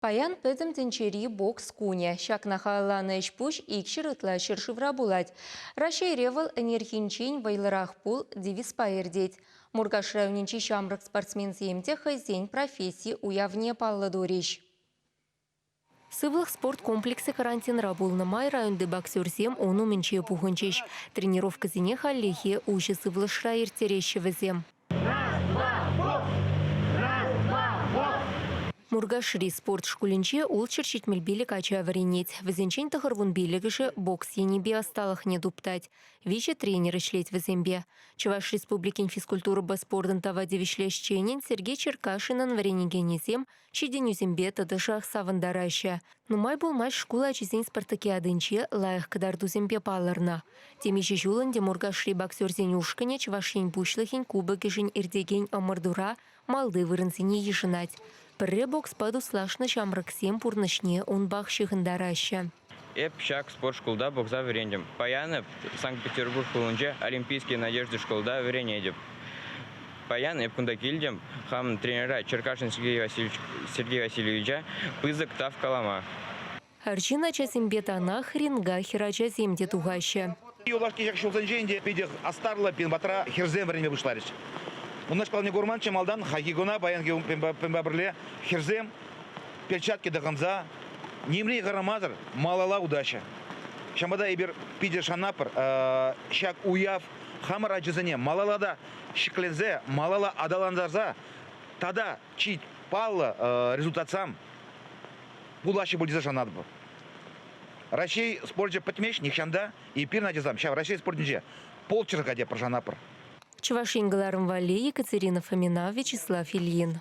Паян пӗтӗм тӗнчери бокс кунӗ. Ҫакна халалланӑ ӗҫ-пуҫ икҫӗр ытла ҫӗршывра пулать. Раҫҫейре вӑл ӗнерхинчен вӑйлӑрах пул девизпа иртет. Муркаш районӗнчи ҫамрӑк спортсменсем те хӑйсен професси уявне паллӑ турӗҫ. Сывлӑх спорт комплексӗ карантинра пулнӑ май районти боксерсем ун умӗнче пухӑнчӗҫ. Тренировкӑсене хальлӗхе уҫӑ сывлӑшра ирттереҫҫӗ вӗсем. Муркашри спорт шкулӗнче ултҫӗр ҫитмӗл пилӗк ача вӗренет. Вӗсенчен тӑхӑр вун пиллӗкӗшӗ бокс енӗпе ӑсталӑхне туптать. Виҫӗ тренер ӗҫлет вӗсемпе. Чӑваш Республикин физкультурӑпа спортӑн тава тивӗҫлӗ ӗҫченӗн Сергей Черкашинӑн вӗренекенӗсем Ҫитӗнӳсемпе тӑтӑшах савӑнтараҫҫӗ. Нумай пулмасть шкул ачисен спартакиадинче лайӑх кӑтартусемпе палӑрнӑ. Темиҫе ҫул ӗнтӗ Муркашри боксерсен ушкӑнӗ Чӑваш Ен Пуҫлӑхӗн кубокӗшӗн иртекен ӑмӑртура малти вырӑнсене йышӑнать. Пӗрре бокспа туслашнӑ ҫамрӑксем пурнӑҫне унпах ҫыхӑнтараҫҫӗ. Эп ҫак спорт шкулта пухса вӗрентӗм. Паян Санкт-Петербург хулинче Олимпийские надежды шкулта вӗренетӗп. Паян эп кунта килтӗм, хамӑн тренера Черкашин Сергей Васильевич, Сергей Васильевича пысӑк тав калама. Арҫын ачасемпе танах ринга хӗрачасем те тухаҫҫӗ. Юлашки ҫулсенче ӗнтӗ питӗ астарлӑ пин патра хӗрсем вӗренме пуҫларӗҫ. Унашкалне курманччӗ малтан, хайхи куна паянхи кунпа пӗрле хӗрсем перчатки тӑхӑнса нимрен хӑрамасӑр малалла утаҫҫӗ. Ҫавӑнпа эпир питӗ шанатпӑр ҫак уяв хамӑр ачасене малалла та ҫӗкленсе, малалла аталантарса тата чи паллӑ результатсам пулаҫҫӗ пуль тесе шанатпӑр. Раҫҫей спорчӗ пӗтмест нихҫан та. Эпир, Надьӑсам, ҫав Раҫҫей спортӗнче полчерка те пӑшанапӑр. Чӑваш Ен кӑларӑм валли Екатерина Фомина, Вячеслав Ильин.